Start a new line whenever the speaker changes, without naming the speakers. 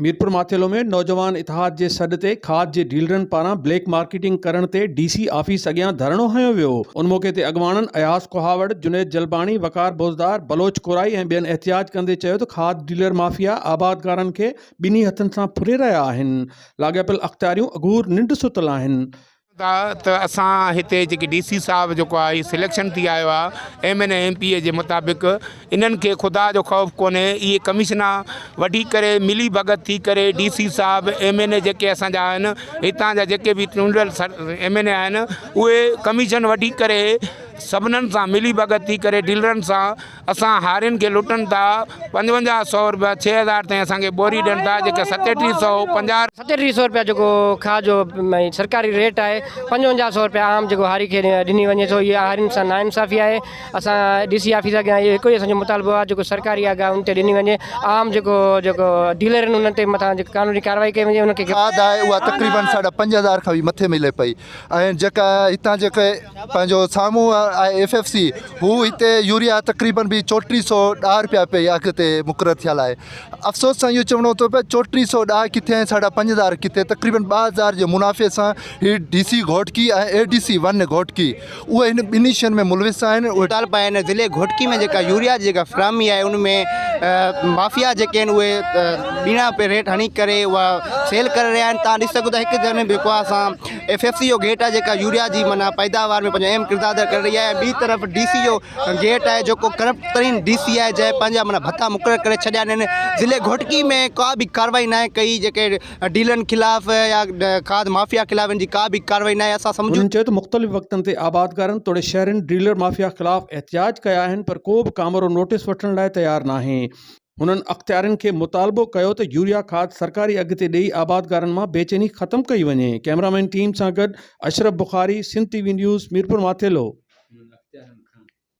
ميرپور ماٿيلو ۾ نوجوان اتحاد جي سڏ تي کاڌ جي ڊيلرن پاران بليڪ مارڪيٽنگ ڪرڻ تي ڊي سي آفيس اڳيان ڌرڻو هنيو ويو ان موقعي تي اڳواڻن اياز ڪهاوڙ، جنيد جلباڻي، وقار بوزدار، بلوچ ڪورائي ۽ ٻين احتجاج ڪندي چيو ته کاڌ ڊيلر مافيا آبادگارن کي ٻنهي هٿن سان ڦري رهيا آهن لاڳاپيل اختياريون اگهور ننڊ ستل آهن ٿا ته
اسان هتي جيڪي ڊي سي صاحب جيڪو آهي هي سليڪشن ٿي آيو آهي M N A M P A جي مطابق انهن کي خدا جو خوف ڪونهي اهي ڪميشنا وڍي ڪري ملي ڀڳت ٿي ڪري ڊي سي صاحب ايم اين اي جيڪي اسان جا آهن هتان جا جيڪي به چونڊيل ايم اين اي آهن اهي ڪميشن وڍي ڪري سڀنن سان ملي ڀڳت ٿي ڪري ڊيلرن سان اسان هارين کي لٽن ٿا پنجونجاهه سئو روپيا ڇهه هزار تائين اسان کي ٻوري ڏين ٿا جيڪا ستيٽيهه سئو پنجاهه ستيٽيهه سئو روپيا جيڪو
کاهه جو سرڪاري ريٽ آهي پنجونجاهه سئو روپيا عام جيڪو هاري کي ڏني وڃي ٿو اها هارين سان نا انصافي آهي اسان ڊي سي آفيس اڳيان اهو هڪ ئي اسان جو مطالبو آهي جيڪو سرڪاري آهي گاهه ان تي ڏني وڃي عام جيڪو جيڪو ڊيلر آهن انهن تي مٿان جيڪو قانوني ڪارروائي ڪئي وڃي انهن کي کاڌ آهي اها تقريبن
ساڍا پنج هزار کان به مٿي ملي پئي ۽ جيڪا هتان جيڪي پنهنجو سامهون آهي ايف ايف سي هو هتي يوريا تقريبن به چوٽيهه سو ڏاهه روپيا پئي اگهه تي مقرر ٿيل آهي افسوس سان اهو چوڻو ٿو پئي چوٽيهه سو ڏاهه ڪٿي ۽ ساڍا پنج هزار ڪٿي تقريبن ٻه هزار جي منافعي سان هي D C Ghotki ۽ A D C one Ghotki اهي هن ٻنهي شين ۾ ملوث آهن. اهي ٽالپا آهن ضلعي
گهوٽڪي ۾ جيڪا يوريا جي جيڪا فراهمي آهي ان ۾ مافيا جيڪي آهن اهي ٻيڻا پي ريٽ هڻي ڪري اها سيل ڪري رهيا آهن تان ڏسي سگهو ٿا هڪ ڌر جيڪو آهي اسان ايف ايف سي جو گيٽ آهي جيڪا يوريا جي معنيٰ پيداوار ۾ پنهنجو اهم ڪردار ادا ڪري رهي آهي ٻي طرف ڊي سي جو گيٽ آهي جيڪو ڪرپٽ ترين ڊي سي آهي جنهن پنهنجا معنيٰ ڀتا مقرر ڪري ڇڏيا آهن ضلعي گهوٽڪي ۾ ڪا به ڪارروائي ناهي ڪئي جيڪي ڊيلرن خلاف يا کاڌ مافيا خلاف ان جي ڪا به ڪارروائي ناهي اسان سمجهون هنن چيو ته مختلف وقتن
تي آبادگارن توڙي شهرين ڊيلر مافيا خلاف احتجاج ڪيا آهن پر ڪو به ڪامورو نوٽيس وٺڻ لاء تيار ناهي، هنن اختيارين کي مطالبو ڪيو ته يوريا کاڌ سرڪاري اگهه تي ڏئي آبادگارن مان بيچيني ختم ڪئي وڃي، ڪئميرا مين ٽيم سان گڏ Ashraf Bukhari Sindh T V news Mirpur Mathelo.